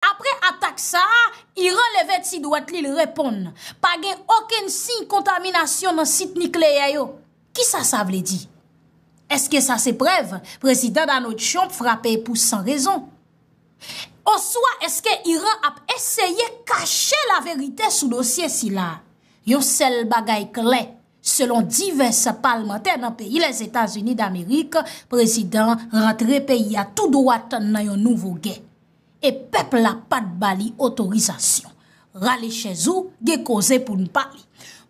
Apre atak sa a, Iran leve ti dwèt li, l reponn, Pa gen okenn siy kontaminasyon nan sit nikleyè yo. Kisa sa vle di? Èske sa se prèv Prezidan Donald Trump frape pou san rezon? Oswa èske Iran ap eseye kache laverite sou dosye sila? Yon sèl bagay klè, selon divès palmantè nan peyi Lèzetazini Damerik, prezidan rantre peyi a tou dwat nan yon nouvo gè. e pèp la pat ba li otorizasyon. Rale chèz ou, gen koze pou n pale.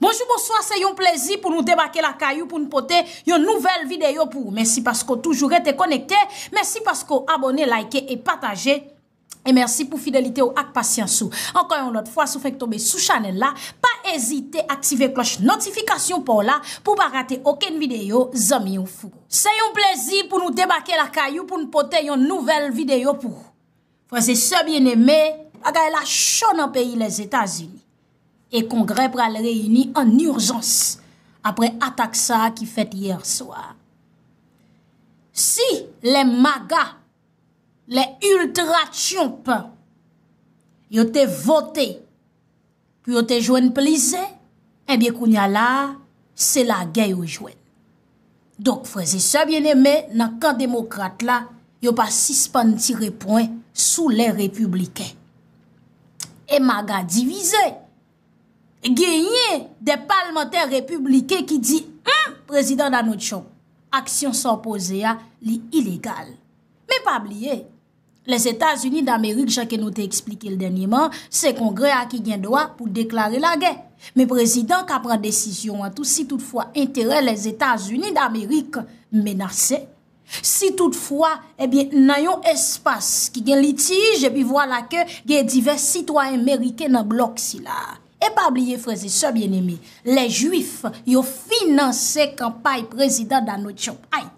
Bonjou bonswa se yon plezi pou nou debake lakay ou pou n pote yon nouvèl videyo pou ou. Mèsi paske w toujou rete konekte, mèsi paske w abone, like e pataje e mèsi pou fidelite ou ak pasyans ou. Ankò yon lòt fwa si w fenk tonbe sou chanèl la, pa ezite aktive klòch notifikasyon pa w la pou w pa rate okenn videyo zanmi ou. Se yon plezi pou nou debake lakay ou pou nou pote yon nouvèl videyo pou ou. Frè se sè byen eme, bagay la cho nan peyi Lèzetazini. E kongrè pral reyini an urjans apre atak sa ki fèt yè swa. Si lè maga, lè ultra tyonp yo te vote. Pou yo te jwenn plis zen, enbyen kounya la a, se lagè yo jwenn. Donk frèzesè byeneme nan kan demokrat la, yo pa sispann tire pwen sou lè repibliken. E maga divize! Genyen de palmantè repibliken ki di, Hum! Prezidan Donald Trump, aksyon sa w poze a, li ilegal. Men pa bliye! Lèzetazini damerik jan ke nou te eksplike l dènyeman, se kongrè a ki gen dwa pou deklare lagè. Men prezidan ka pran desizyon an tou si tout fwa enterè lèzetazini damerik menase. Si tout fwa, ebyen nan yon espas ki gen litij epi vwala ke gen divès sitwayen meriken nan blòk sila. E pa bliye frèzesè byeneme, lè jwif yo finanse kanpay prezidan Donald Trump. Ay!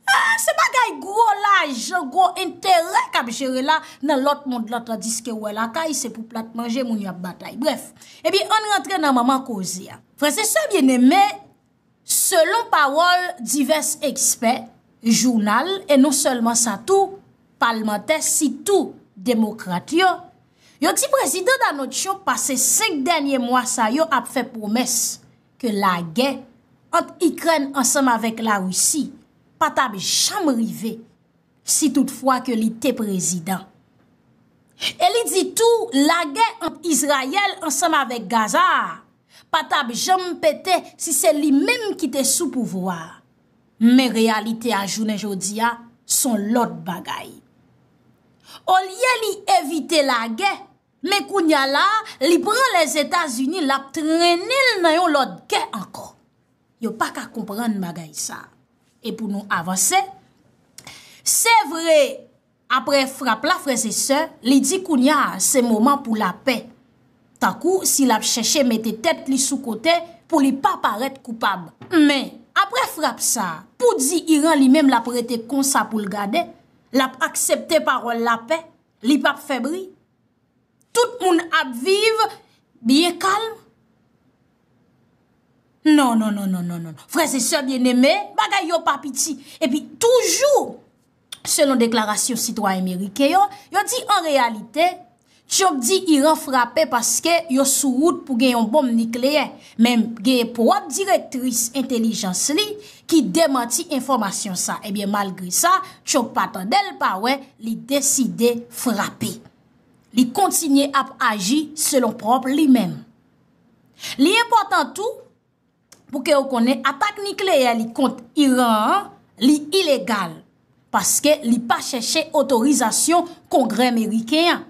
Eeh se bagay gwo lajan, gwo enterè kap jere la nan lòt mond lan tandiske ou wè lakay se pou plat manje moun yo ap batay. Brèf, epi ann rantre nan manman koze a. Frè se sè byeneme, selon pawòl divès ekspè, jounal e non sèlman sa tou, palmantè sitou demokrat yo, yo di prezidan Danotcho pase 5 dènye mwa sa yo ap fè pwomès ke lagè ant Ikrèn ansanm avèk Larisi pa t ap janm rive si tout fwa ke li te prezidan. E li di tou lagè ant Izrayèl ansanm avèk Gaza a pa t ap janm pete si se li menm ki te sou pouvwa a. Men reyalite a jounen jodi a s on lòt bagay. Olye li evite lagè, Men kounya la a, li pran Lèzetazini, l ap trennen l nan yon lòt gè ankò. Yo pa ka konprann bagay sa a. E pou nou avanse, se vre, apre frap la, frè e sè, li di kounya a, se moman pou lapè. Tankou si l ap chèche mete tèt li sou kote pou li pa parèt koupab. Men, apre frap sa a, pou di Iran li menm l ap rete konsa pou l gade, l ap aksepte pawòl lapè, li pa p fè bri, tout moun ap viv byen kalm. Non, non, non, non, non, non, non, frè se sè byen eme, bagay yo pa piti. E pi toujou, selon deklarasyon sitwayen merike yo, yo di an reyalite, Trump di Iran frape paske yo sou wout pou gen yon bonm nikleyè. Men gen pwòp direktris entelijans li ki demanti enfòmasyon sa. Ebyen malgre sa, Trump pa tande l pa wè, li deside frape. Li kontinye ap aji selon pwòp li menm. Li enpòtan tou pou ke ou konnen atak nikleyè li kont Iran an, li ilegal. Paske li pa chèche otorizasyon kongrè meriken an.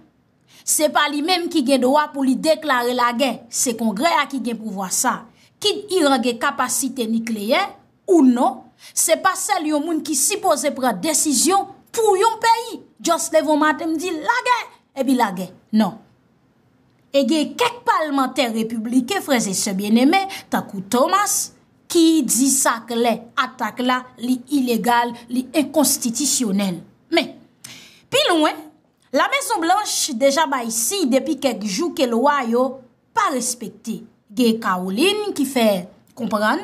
Se pa li menm ki gen dwa pou li deklare lagè, se Kongrè a ki gen pouvwa sa. Kit Iran gen kapasite nikleyè ou non, se pa sèl yon moun ki sipoze pran desizyon pou yon peyi just leve yon maten m di lagè, epi lagè. Non. E gen kèk palmantè repibliken, frè e sè byeneme, tankou Thomas, ki di sa klè, atak la li ilegal, li enkonstitisyonèl. Men, pi lwen. La Mezon Blanch deja bay siy depi kèk jou ke lwa yo pa respekte. Gen Caroline ki fè konprann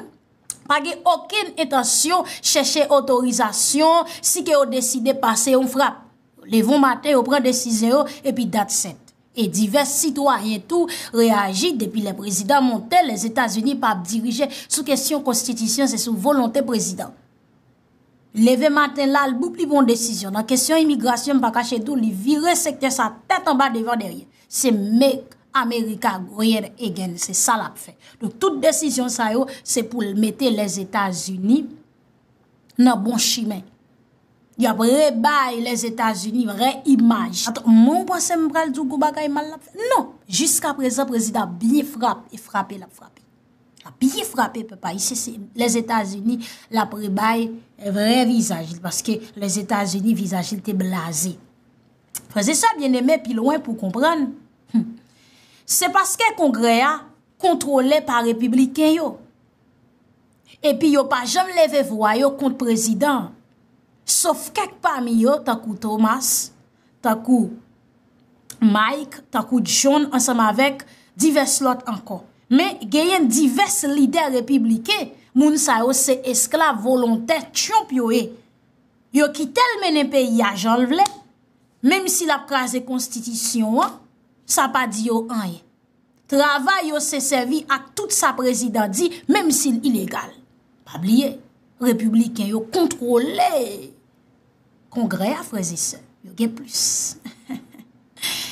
pa gen okenn entansyon chèche otorizasyon si ke yo deside pase yon frap. Yo leve yon maten yo pran desizyon yo epi dat sèt. E divès sitwayen tou reyaji depi lè prezidan monte Lèzetazini pa ap dirije sou kesyon konstitisyon se sou volonte prezidan. Leve maten la, l boup li pran yon desizyon. Nan kesyon imigrasyon, m pa kache di w, li vire sektè sa tèt anba devan dèyè. Se Make America Great Again, se sa l ap fè. Donk tout desizyon sa yo, se pou l mete Lèzetazini nan bon chimen. Y ap rebay Lèzetazini vrè imaj. Aton, mwen ou panse m pral di w gwo bagay mal l ap fè? Non! Jiskaprezan, prezidan ap byen frape, e frape l ap frape. Lap byen frape pèp ayisyen se les Etats-Unis lap rebay vrè vizaj li paske les Etats-Unis vizaj li te blaze. Frèzè sa byen eme pi lwen pou konprann. Se paske kongrè a kontrole pa repibliken yo. Epi yo pa janm leve vwa yo kont prezidan. Sof kèk pa mi yo tankou Thomas. tankou Mike, tankou John ansanm avèk divès lòt ankò. Men genyen divès lidè repibliken, moun sa yo se esklav volontè Trump yo ye. Yo kite l mennen peyi a jan l vle, menm si l ap kraze konstitisyon an, sa pa di yo anyen. Travay yo se sèvi ak tout sa prezidan di, menm si l ilegal. Pa bliye, repibliken yo kontwole. kongrè a freze sè, yo gen plis.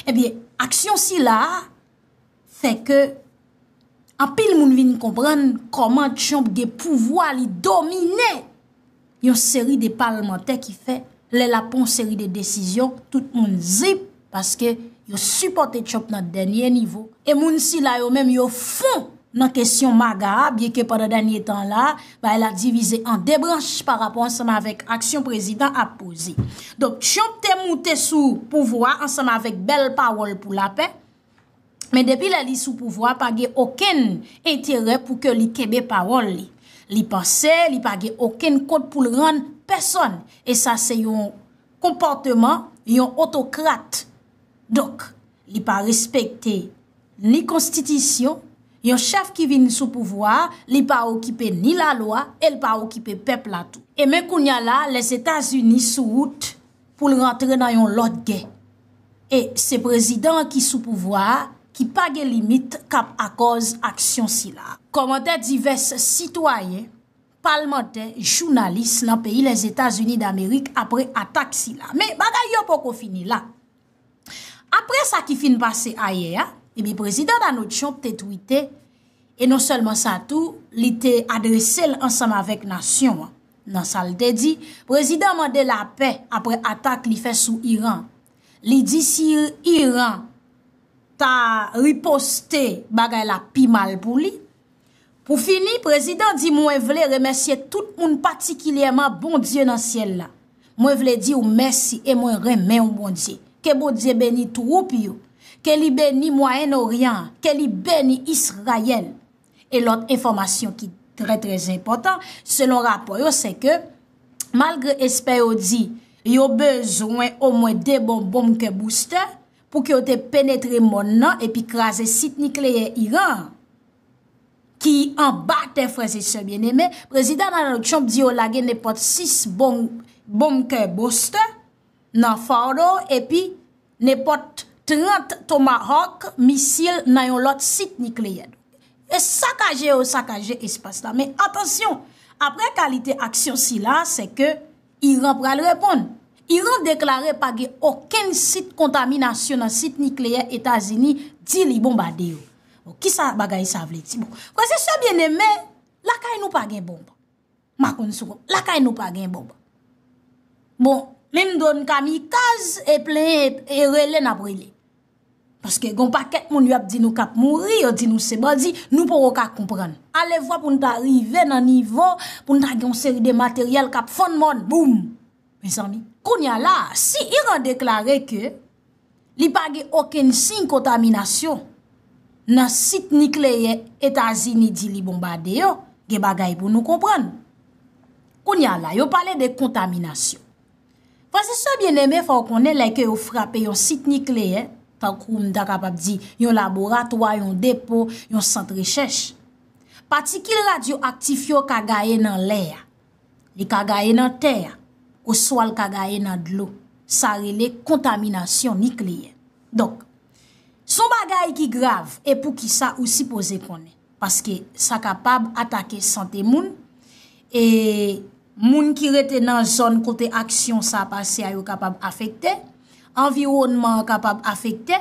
Ebyen, aksyon si la, fè ke anpil moun vin konprann koman Trump gen pouvwa li domine yon seri de palmantè ki fè lè la pon seri de desizyon, tout moun zip, Paske yo sipòte Trump nan dènye nivo. E moun sila yo menm yo fon nan kesyon MAGA a, byen ke pandan dènye tan la, bagay la divize an 2 branch pa rapò ansanm avèk aksyon prezidan ap poze. Donk, Trump te moute sou pouvwa ansanm avèk bèl pawòl pou lapè, men depi lè li sou pouvwa pa gen okenn enterè pou ke li kenbe pawòl li. Li panse li pa gen okenn kont pou l rann pèsòn. E sa se yon konpòteman yon otokrat. Donk, li pa respekte ni konstitisyon, yon chèf ki vin sou pouvwa a, li pa okipe ni lalwa e l pa okipe pèp la tou. E men kounya la, Lèzetazini sou wout pou l rantre nan yon lòt gè. E se prezidan an ki sou pouvwa a ki pa gen limit k ap akòz aksyon sila. Kòmantè divès sitwayen. palmantè, jounalis nan peyi Lèzetazini Damerik apre atak sila. Men, bagay yo poko fini la. Apre sa ki fin pase ayè a, ebi Prezidan Donald Trump te twite, e non sèlman sa tou, li te adrese l ansanm avèk nasyon an. Nan sa l te di, Prezidan an mande lapè apre atak li fè sou Iran. Li di si Iran ta riposte, bagay la pi mal pou li. Pou fini, prezidan di mwen vle remèsye tout moun patikilyèman Bondye nan syèl la. Mwen vle di w mèsi e mwen renmen w Bondye. Ke Bondye beni twoup yo. Ke li beni Mwayen Oryan an. Ke li beni Israyèl. E lòt enfòmasyon ki trè trè enpòtan selon rapò yo se ke malgre espè yo di yo bezwen omwen 2 bon bonm ke boustè pou ke yo te penetre mòn nan epi kraze sit nikleyè Iran an. ki anba tè frè se sè byen eme, prezidan Donald Trump di yo lage nepòt 6 bonm bonkè bostè nan Fardo epi nepòt 30 tomahawk misil nan yon lòt sit nikleyè. E sakaje yo sakaje espas la. Men atansyon, apre kalite aksyon sila, se ke Iran pral reponn. Iran deklare pa gen okenn sit kontaminasyon nan sit nikleyè Etazini di li bonbade yo. Bon, ki sa bagay sa vle di? Bon, frè se sè byen eme, lakay nou pa gen bonb. Ma konn sou konn, lakay nou pa gen bonb. Bon, menm dron kamikaz e plen e rele nap rele. Paske gon pakèt moun yo ap di nou kap mouri, yo di nou se bandi, nou poko ka konprann. Alevwa pou nou ta rive nan nivo, pou nou ta gen yon seri de materyèl kap fann mòn, boum! Mezanmi. Kounya la, si Iran deklare ke li pa gen okenn siy kontaminasyon nan sit nikleyè Etazini di li bonbade yo, gen bagay pou nou konprann. Kounya la, yo pale de kontaminasyon. Frè se sè byeneme fòw konnen lè ke yo frape yon sit nikleyè, tankou m ta kapab di yon laboratwa, yon depo, yon sant rechèch. Patikil radyo aktif yo ka gaye nan lè a, li ka gaye nan tè a, oswa l ka gaye nan dlo. Sa rele kontaminasyon nikleyè. Donk, son bagay ki grav e pou ki sa ou sipoze konnen. paske sa kapab atake sante moun, e moun ki rete nan zòn kote aksyon sa pase a yo kapab afekte, anviwònman an kapab afekte.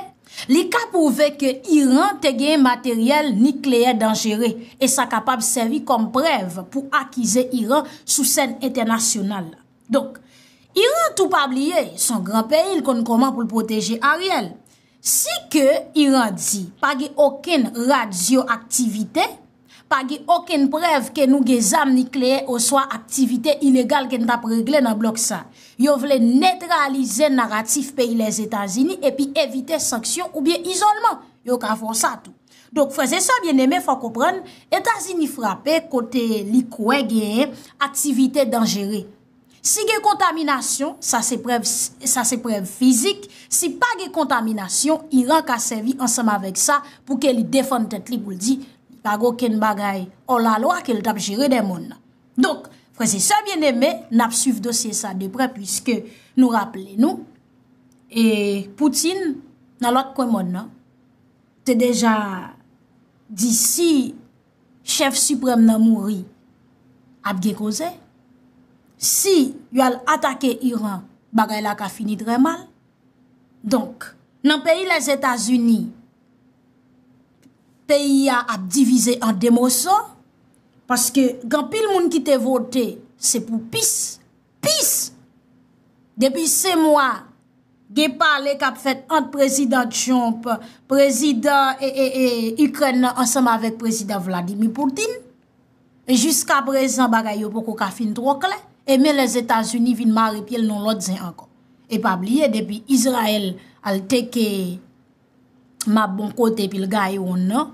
Li ka pwouve ke Iran te gen materyèl nikleyè danjere, e sa kapab sèvi kòm prèv pou akize Iran sou sèn entènasyonal la. Donk, Iran tou pa bliye, son gran peyi l konn kòman pou l pwoteje Ariel. Si ke Iran di pa gen okenn radyo-aktivite, pa gen okenn prèv ke nou gen zam nikleyè oswa aktivite ilegal ke n t ap regle nan blòk sa. Yo vle netralize naratif peyi Lèzetazini epi evite sanksyon oubyen izolman. Yo ka fon sa tou. Donk frèz e sè byeneme fò konprann, Etazini frape kote li kwè genyen aktivite danjere. Si gen kontaminasyon, sa se prèv sa se prèv fizik, si pa gen kontaminasyon, Iran ka sèvi ansanm avèk sa pou ke li defann tèt li pou l di li pa gen okenn bagay ò la lwa ke l t ap jere dè mòn nan. Donk, frèz e sè byeneme, n ap swiv dosye sa de prè pwiske nou raple nou e Poutin nan lòt kwen mòn nan te deja di si chèf siprèm nan mouri, ap gen koze. Si yo al atake Iran, bagay la ka fini trè mal. Donk, nan peyi Lèzetazini, peyi a ap divize an demoso, paske gen pil moun ki te vote, se pou pis. Pis! Depi se mwa, gen pale k ap fèt ant Prezidan Trump, Prezidan Ikrèn nan ansanm avèk Prezidan Vladimir Putin. Jiska prezan bagay yo poko ka fin twò klè. E men Lèzetazini vin mare pye l nan lòt zen ankò. E pa bliye depi Izrayèl al teke. ma bon kote epi l gaye wonn nan,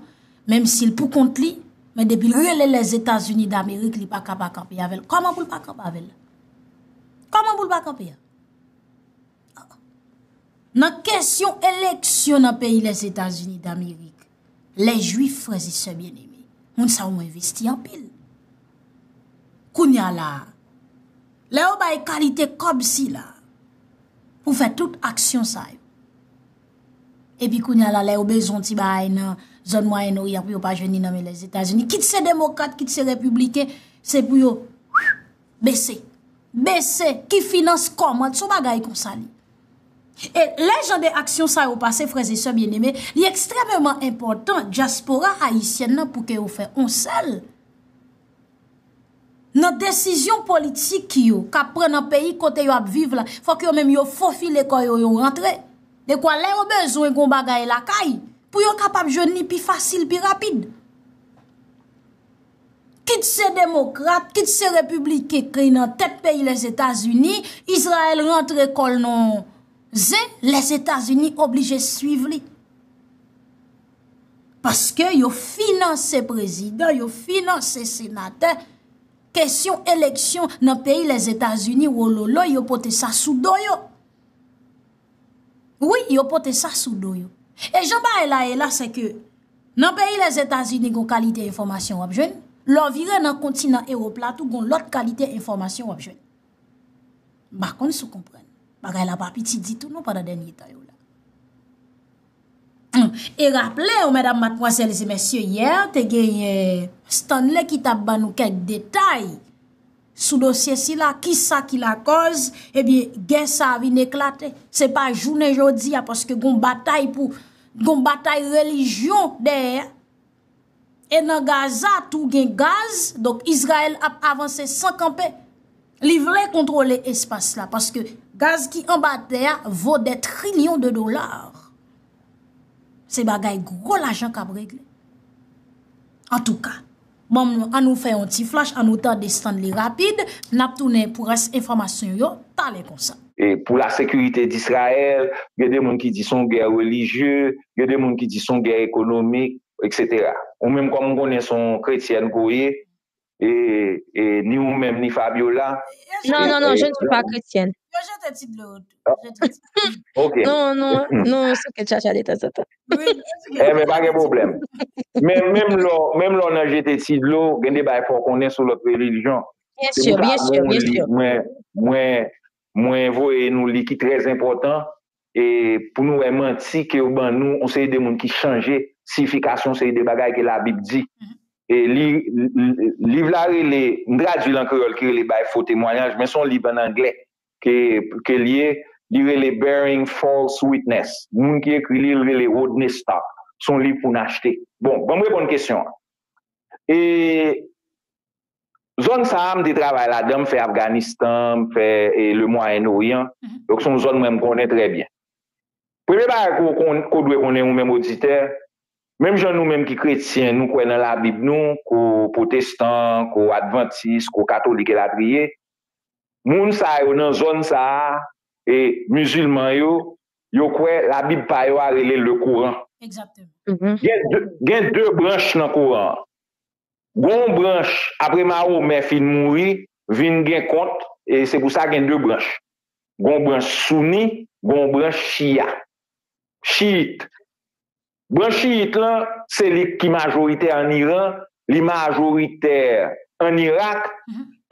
menm si l pou kont li, men depi l rele Lèzetazini Damerik li pa ka pa kanpe avè l. Kòman pou l pa kanpe avè l? Kòman pou l pa kanpe? Nan kesyon eleksyon nan peyi Lèzetazini Damerik, lè jwif frèzi sè byen eme, moun sa ou mwen vesti anpil. Kounye a la, lè ou bay kalite kòb si la, pou fè tout aksyon sa yo, Epi kounya la lè yo bezwen yon ti bagay nan zòn mwayen oryan pou yo pa jwenn li nan men lèzetazini kit se demokrat kit se repibliken se pou yo bese bese ki finans kòmant son bagay konsa li e lè jan de aksyon sa yo pase frèzesè byeneme li ekstrememan enpòtan djaspora ayisyen nan pou ke yo fè onsèl Nan desizyon politik yo k ap pran nan peyi kote yo ap viv la, fòk yo menm yo fofile kò yo, yo rantre. Dekwa lè yo bezwen yon bagay lakay, pou yo kapab jwenn li pi fasil, pi rapid. Kit se demokrat, kit se repibliken ki nan tèt peyi Lèzetazini, Izrayèl rantre kò l nan yon ze, Lèzetazini oblije swiv li. Paske yo finanse prezidan, yo finanse senatè, kesyon eleksyon nan peyi les Etats-Unis wololoy yo pote sa sou do yo. Wi, yo pote sa sou do yo. E jan bagay la e la se ke nan peyi les Etats-Unis gon kalite enfomasyon wap jwenn, lò vire nan kontinan Europe la tou gon lòt kalite enfomasyon wap jwenn. Bakon sou konprann. Bagay la pa piti ditou nou pandan dènye tan yo la. E raple ou medam matmwazèl e mesye yè te genye Stanley ki tap ban nou kèk detay sou dosye sila ki sa ki la kòz e byen gè sa vin eklate. Se pa jounen jodi a paske gon batay pou gon batay relijyon dèyè E nan Gaza tou gen gaz, donk Izrayèl ap avanse san kanpe. Li vle kontwole espas la, paske gaz ki anba tè a vo dè trilyon de dolar. Se bagay gwo lajan kap regle. An tou ka, banm nou an nou fè yon ti flash, an nou tande Stanley rapid, nap tounen pou rès enfòmasyon yo, talè konsa. pou la sekirite d'Israèl, gen de moun ki di son gè relijye, gen de moun ki di son gè ekonomik, etc. Ou menm kòm m konnen son kretyèn ke w ye, e ni ou menm ni Fabiola. Non, non, non, je ne suis pas chrétienne. Yo jete ti dlo yo tou. Ok. Non, non, non, sou kèt chacha de tan zan tan. Eh men, pa gen pwoblèm. Men menm lò, menm lò nan jete ti dlo, gen de bay fò w konnen sou lòt relijyon. Byen sur, byen sur, byen sur. Mwen, mwen, mwen voye nou li ki trè enpòtan e pou nou wè manti ke yo ban nou yon seri de moun ki chanje siyifikasyon yon seri de bagay ke labib di. E li, liv la rele, m tradui l an kreyòl ki rele Bay fo temwanyaj men se yon liv an anglè ke, ke l ye, li rele Bearing False Witness. Moun ki ekri li, li rele Rodney Stark. Se yon liv pou n achte. Bon, ban m reponn kesyon an. E. Zòn sa a m te travay ladan, m fè Afganistan, m fè Le Mwayen Oryan, donk se yon zòn mwen m konnen trè byen. Premye bagay ke w dwe konnen ou menm oditè, menm jan nou menm ki kretyen nou kwè nan labib nou, ke w pwotestan, ke w advantis, ke w katolik elatriye, moun sa yo nan zòn sa a, e mizilman yo, yo kwè labib pa yo a rele Lekoran. Gen de branch nan Koran an. Gon branch apre Mahomè fin mouri vin gen kont e se pou sa gen 2 branch. Gon branch Souni, gon branch Shia. Shiyit. Branch Shiyit lan se li ki majoritè an Iran, li majoritè an Irak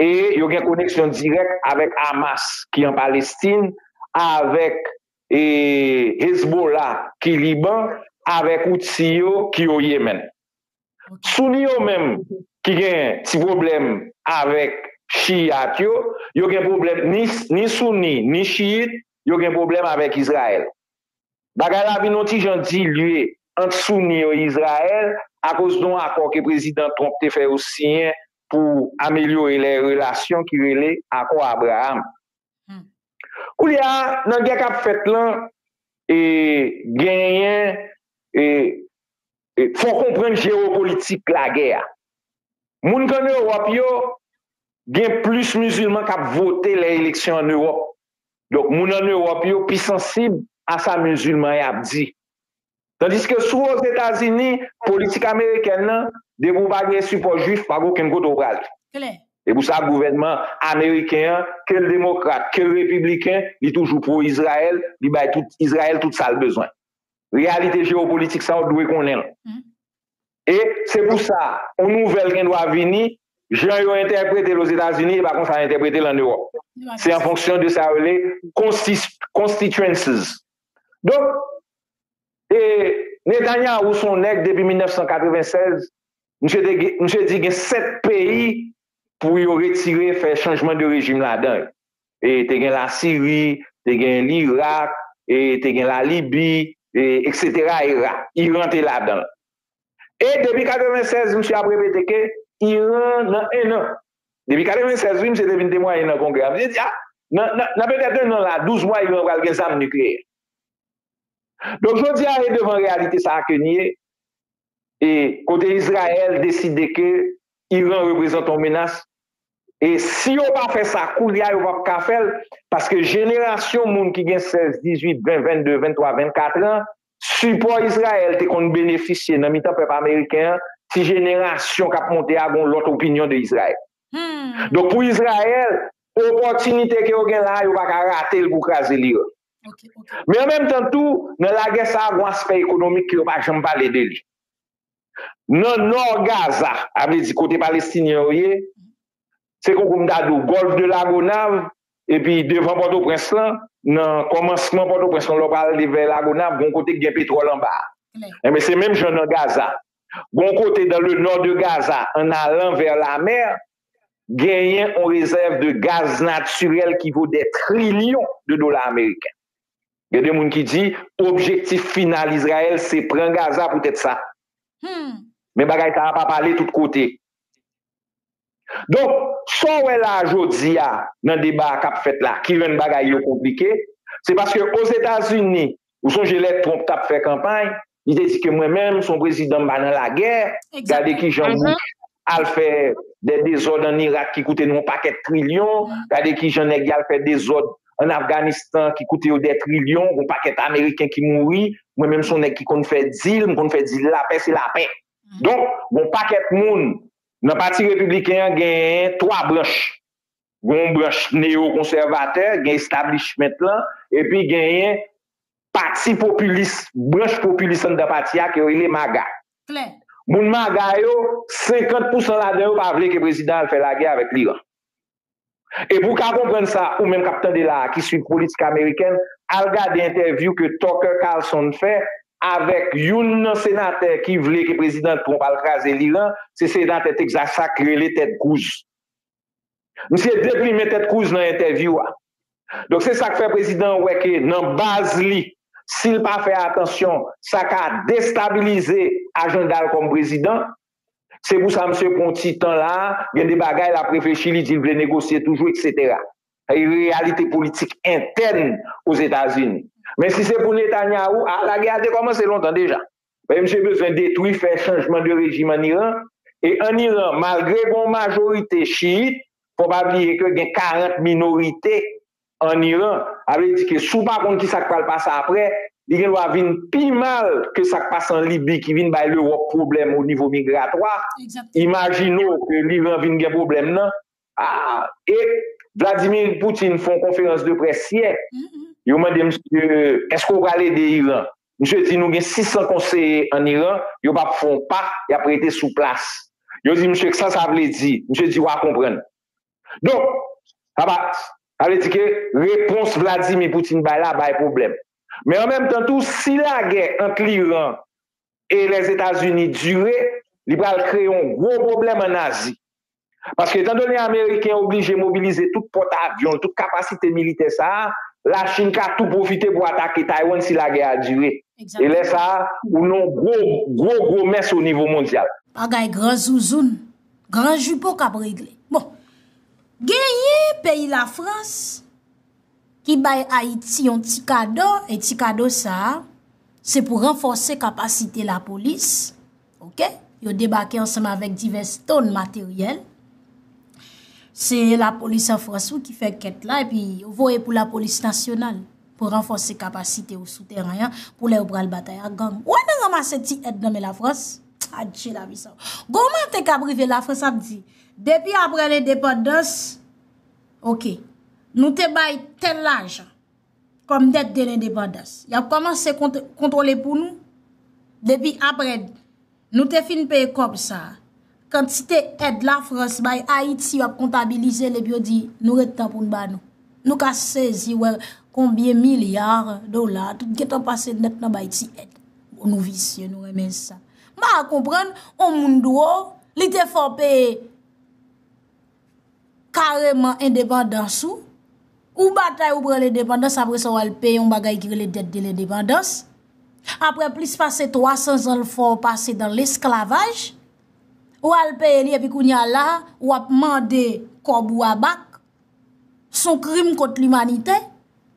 e yo gen koneksyon dirèk avèk Hamas ki an Palestin, avèk Hezbollah ki Liban, avèk Houthi yo ki o Yemen. Souni yo menm ki gen ti pwoblèm avèk Shiyat yo, yo gen pwoblèm, ni Souni, ni Shiyit, yo gen pwoblèm avèk Izrayèl. Bagay la vin yon ti jan dilye ant Souni yo e Izrayèl akoz de yon akò ke Prezidan Trump te fè yo siyen pou amelyore lè relasyon ki rele Akò Abraham. Koulye a, nan gè k ap fèt lan, genyen, fò w konprann jewopolitik lagè a. Moun k ann Ewòp yo, gen plis mizilman k ap vote lè eleksyon ann Ewòp. Donk moun ann Ewòp yo pi sansib a sa mizilman y ap di. Tandiske sou Ozetazini, politik amerikèn nan, depi ou pa gen sipò jwif, pa gen okenn kote ou prale. Klè. E pou sa gouvènman ameriken an, ke l demokrat, ke l repibliken, li toujou pwo Izrayèl, li bay tout Izrayèl tout sa l bezwen. Reyalite jewopolitik sa a ou dwe konnen l. E se pou sa, yon nouvèl gen dwa vini, jan yo entèprete l Ozetazini e pa konsa yo entèprete l an Ewòp. Se an fonksyon de sa yo rele constituences, Donk e Netanyahu son nèg depi 1996 misye te gen misye di gen 7 peyi pou yo retire fè chanjman de rejim ladan yo e te gen la Siri te gen L'irak e te gen la Libi e eksetera era Iran te ladanl E depi 96 misye ap repete ke Iran nan 1 nan. Depi 96 wi misye te vin temwaye nan kongrè a. Misye di a nan petèt 1 nan la 12 mwa Iran pral gen zam nikleyè. Donk jodi a e devan reyalite sa a ke n ye e kote Izrayèl deside ke Iran reprezante yon menas e si yo pa fè sa koulye a yo pap ka fè l paske jenerasyon moun ki gen 16, 18, 20, 22, 23, 24 an sipò Izrayèl te konn benefisye nan mitan pèp ameriken an ti jenerasyon kap monte a gon lòt opinyon de Izrayèl donk pou Izrayèl opòtinite ke yo gen la a yo pa ka rate l pou kraze l'Iran men an menm tan tou nan lagè sa a gon aspè ekonomik ke yo pa janm pale de li. Nan nò Gaza, a vle di kote Palestinyen yo ye, se konkou m ta di w, Gòlf de Lagonav, epi devan Pòtoprens lan, nan kòmansman Pòtoprens lan, lè w pral ale vè Lagonav, gon kote ki gen petwòl anba a. Enben, se menm jan nan Gaza. Gon kote dans le nord de Gaza, an alan vè lamè, genyen yon rezèv de gaz natirèl ki vo dè trilyon de dola ameriken. Gen de moun ki di objektif final Izrayèl se pran Gaza poutèt sa. Men bagay sa a pa pale tout kote. Donk, sa w wè la a jodi a nan deba a k ap fèt la ki rann bagay yo konplike, se paske Ozetazini, ou sonje lè Trump t ap fè kanpay, Li te di ke mwen menm son prezidan m pa nan lagè, gade kijan Bush al fè dè dezòd an Irak ki koute nou yon pakèt trilyon, gade kijan nèg y al fè dezòd an Afganistan ki koute yo dè trilyon, gon pakèt ameriken ki mouri, mwen menm son nèg ki konn fè dil, m konn fè dil lapè se lapè. Donk gon pakèt moun nan pati repibliken an genyen 3 branch. Gen yon branch neyokonsèvatè, gen establishment lan, epi genyen pati popilis, branch popilis anndan pati a ke yo rele MAGA. Moun MAGA yo, 50 pousan ladan yo pa vle ke prezidan al fè lagè avèk l'Iran. E pou w ka konprann sa, ou menm k ap tande la a ki swiv politik amerikèn, al gade entèvyou ke Tucker Carlson fè avèk youn nan senatè ki vle ke prezidan Trump al kraze l'Iran, se senatè Texas la ki rele Ted Cruz. Misye deplimen tèt Cruz nan entèvyou a. Donk se sa k fè prezidan an wè ke nan baz li, si l pa fè atansyon, sa ka destabilize ajanda l kòm prezidan. Se pou sa misye pran yon ti tan la a, gen de bagay l ap reflechi, li di l vle negosye toujou eksetera. Sa se reyalite politik entèn Ozetazini. Men si se pou Netanyahu, a lagè a te kòmanse lontan deja. Men misye bezwen detwi, fè chanjman de rejim an Iran, e an Iran malgre gen yon majorite chiit, fò pa bliye ke gen 40 minorite an Iran, sa vle di ke si w pa konn kisa k pral pase aprè, li gen dwa vin pi mal ke sa k pase an Libi ki vin bay Lewòp pwoblèm o nivo migratwa, imajine w ke l'Iran vin gen pwoblèm nan, Ah e Vladimir Poutine fon konferans de près yè, yo mande misye eske ou pral ede Iran? Misye di nou gen 600 konseye an Iran, yo pap fon pa, yap rete sou plas. Yo di misye ksa sa vle di? Misye di wa konprann. Donk sa pa sa vle di ke repons Vladimir Poutine bay la bay pwoblèm. Men an menm tan tou si lagè ant l'Iran e Lèzetazini dire, li pral kreye yon gwo pwoblèm ann Azi. Paske etan done ameriken oblije mobilize tout pòt avyon l, tout kapasite militè sa a, Lachin ka tou pwofite pou atake Taywann si lagè a dire. E lè sa a, ou nan yon gwo, gwo, gwo mès o nivo mondyal. Bagay gran zouzoun, gran jipo k ap regle. Bon, genyen peyi Lafrans. ki bay Ayiti yon ti kado, e ti kado sa a, se pou ranfòse kapasite lapolis, ok, yo debake ansanm avèk divès ton materyèl, se lapolis an Frans ou ki fè kèt la, epi yo voye pou lapolis nasyonal, pou ranfòse kapasite ou sou tèren an, pou lè yo pral batay ak gang. Ou wè nan ranmase ti èd nan men la Frans? Adje la vi sa. Gon mantè kap rive la Frans ap di, depi aprè lendepandans, Ok. Nou te bay tèl lajan. Kòm dèt de lendepandans. Y ap kòmanse kontwole pou nou. Depi apre. Nou te fin peye kòb sa. Kantite èd la frans bay Ayiti y ap kontabilize l epi yo di nou ret tan pou n ba nou. Nou ka sezi wè konbyen milyar dola tout gen tan pase nèt nan bay ti èd. Bon nou visye nou renmen sa. M pa konprann on moun dwo li te fè w peye kareman endepandans ou, ou batay ou pran lendepandans apre sa w al peye yon bagay ki rele dèt de lendepandans, apre plis pase 300 zan l fè w pase dan lesklavaj, ou al peye li epi kounye a la w ap mande kòb ou a bak, son krim kont limanite.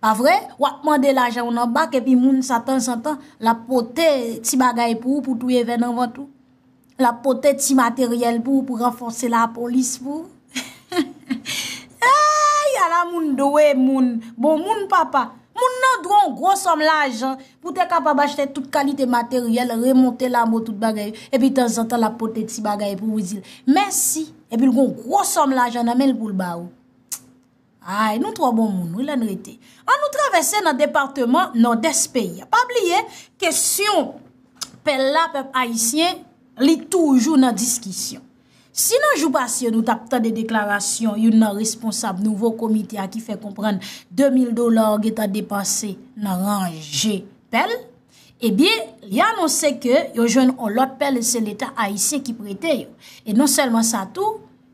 Pa vre? Wap mande lajan w nan bak epi moun sa tanzantan lap pote ti bagay pou ou pou touye vè nan vant ou. Lap pote ti materyèl pou ou pou ranfòse lapolis pou ou. Eyy! Ala moun dwe moun! Bon moun papa! Moun nan dwe w gwo sòm lajan pou te kapab achte tout kalite materyèl, remonte labo tout bagay. Epi tanzantan lap pote ti bagay pou ou di l mèsi epi l gwo gwo sòm lajan nan men l pou l ba ou. Ayy nou twò bon moun wi lè n rete. An nou travèse nan departeman Nòdès peyi a. Pa bliye kesyon pèl la pèp ayisyen li toujou nan diskisyon. Si nan jou pase nou tap tande deklarasyon youn nan responsab nouvo komite a ki fè konprann 2000 dola ou getan depanse nan ranje pèl, ebyen li anonse ke yo jwenn on lòt pèl e se leta ayisyen ki prete yo. E non sèlman sa tou.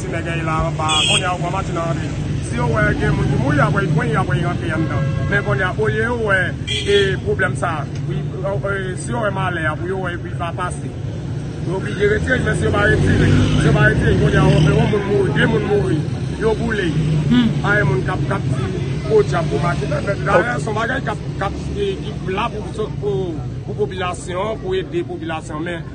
Ti nèg an ye la anba a kounye a ou wè matin an antre si yo wè gen moun ki mouri apre yi pran yi apre yi rantre anndan men kounye a olye yo wè e pwoblèm sa si yo wè malè a pou yo wè epi li pa pase yo oblije retire yi men si yo pa retire si yo pa retire yi kounye a yon moun mouri de moun mouri yo boule yi pa gen moun kap kap di podyab pou matin an fèt dayè son bagay kap kap ki la pou pou popilasyon pou ede popilasyon men.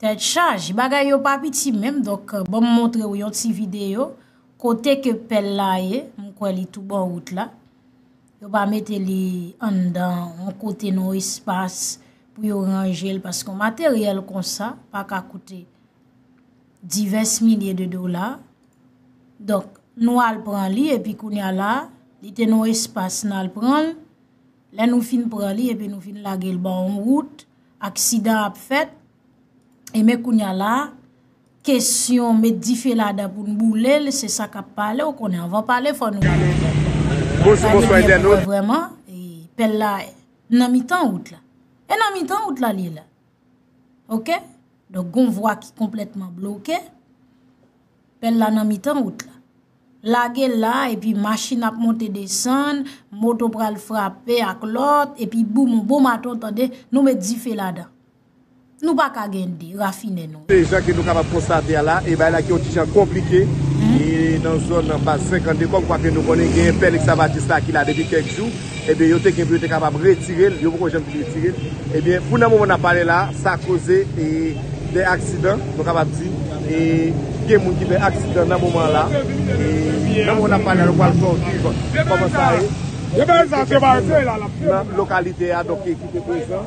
Tèt chaj, bagay yo pa piti menm donk ban m montre w yon ti videyo kote ke pèl la ye, m kwè li tou bò wout la. Yo pa mete li anndan yon kote nan yon espas pou yo ranje l paske yon materyèl konsa pa ka koute divès milye de dola. Donk nou al pran li epi kounye a la, li te nan yon espas nan al pran l, lè nou fin pran li epi nou vin lage l ban yon wout, aksidan ap fèt, e men kounye a la, kesyon met dife ladan pou n boule l, se sa k ap pale, ou konnen anvan pale fò nou gade pèl la. Gade byen pou wè vrèman, pèl la Nan mitan wout la. E nan mitan wout la li ye la. Ok. Donk gon vwa ki konpletman bloke. Pèl la nan mitan wout la. Lage la epi machin ap monte desann. Moto pral frape ak lòt. Epi boum, bon maton tande. Nou met dife ladan. Nou pa ka gen 2, rafine non. Se jan ke nou kapab konstate a la, e bagay la ki yon ti jan konplike, e nan zòn Baz 52, kòm kwa ke nou konnen genyen pèl ekskavatis la ki la depi kèk jou, ebyen yo te gen pou yo te kapab retire l, yo poko janm fin retire l, ebyen pou nan moman n ap pale la, sa koze e de aksidan, nou kapab di, e gen moun ki fè aksidan nan moman la, e nan moman n ap pale la nou pral fè w viv kòman sa ye, e gen kèk moun nan lokalite a donk ki te prezan.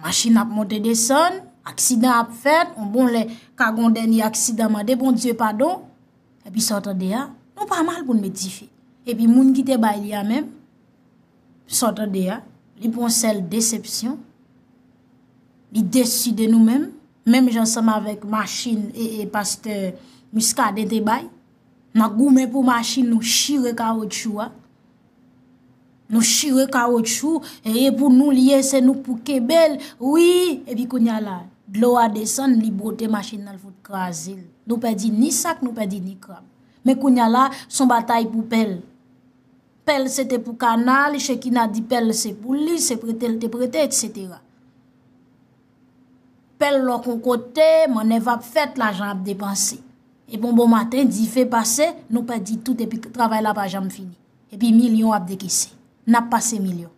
Machin ap monte desann, aksidan ap fèt, on bon lè ka gon dènye aksidan mande Bondye padon, epi sa w tande a, nou pa mal pou n met dife. Epi moun ki te bay li a menm, sa w tande a, li pran sèl desepsyon, li desi de nou menm, menm jan san m avèk machin e pastè Muscadin te bay, nan goumen pou machin nou chire kawotchou a, Nou chire kawotchou, e pou nou li ye se nou pou kenbel, wi, e pi kounye la, dlo a desann li bwote machin nan fout kraze, nou pe di ni sak, nou pe di ni krab. Men kounye la, son batay pou pel. Pel se te pou kanal, chekina di pel se pou li, se prete li te prete, etc. Pèl lòk on kote, mannèv ap fèt, lajan ap depanse. Epi on bon maten, dife pase, nou pèdi tout epi travay la pa janm fini. Epi milyon ap dekese. N ap pase milyon.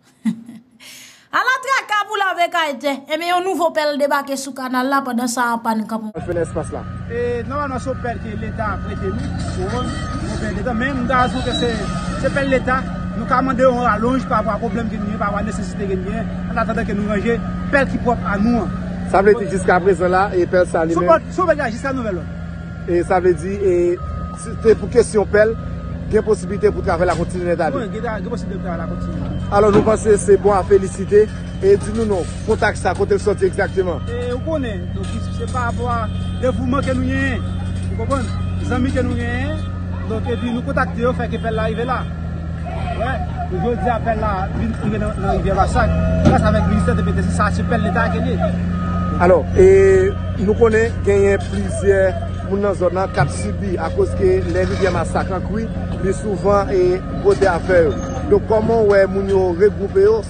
Ala traka pou lave kay tè! Enben yon nouvo pèl debake sou kanal la pandan sa anpàn kanpon. Fenè espas la. E nòmalman son pèl ke leta prete nou, ou wè, son pèl leta, men m ta di ke se pèl leta, nou ka mande yon ralonj pa rapò a pwoblèm ke nou genyen, pa rapò a nesesite ke nou genyen, an atandan ke nou ranje pèl ki pwòp a nou an. Sa vle di jiska prezan la, e pèl sa li menm. Son pèl la jiska nouvèl lòd. E sa vle di, e si te pou kesyon pèl, gen posibilite pou travay la kontinye nèt ale. Gen posibilite pou travay la kontinye. Alò nou panse se bon a felisite. E di nou non kontak sa kote l soti egzakteman. E ou konnen donk se pa rapò a devouman ke nou genyen ou konprann zanmi ke nou genyen donk epi nou kontakte yo fè ke pèl la rive la wè e jodi a pèl la vin rive nan rivyè basak gras avèk ministè depite se sa se pèl leta ke l ye alò e nou konnen genyen plizyè moun nan zòn nan kap sibi akoz ke lè rivyè masak an kwi li souvan e bote afè yo donk kòman ou wè moun yo regwoupe yo.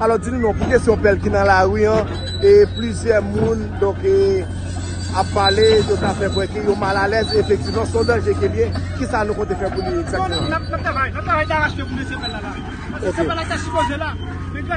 Alò di nou non pou kesyon pèl ki nan lari an e plizyè moun donk e ap pale yo ta fè kwè ke yo mal alèz efektivman son danje ke liye ki sa nou konte fè pou li egzakteman. Nap travay nap travay daras ke pou mesye pèl la la paske se pèl la ta sipoze la men gras.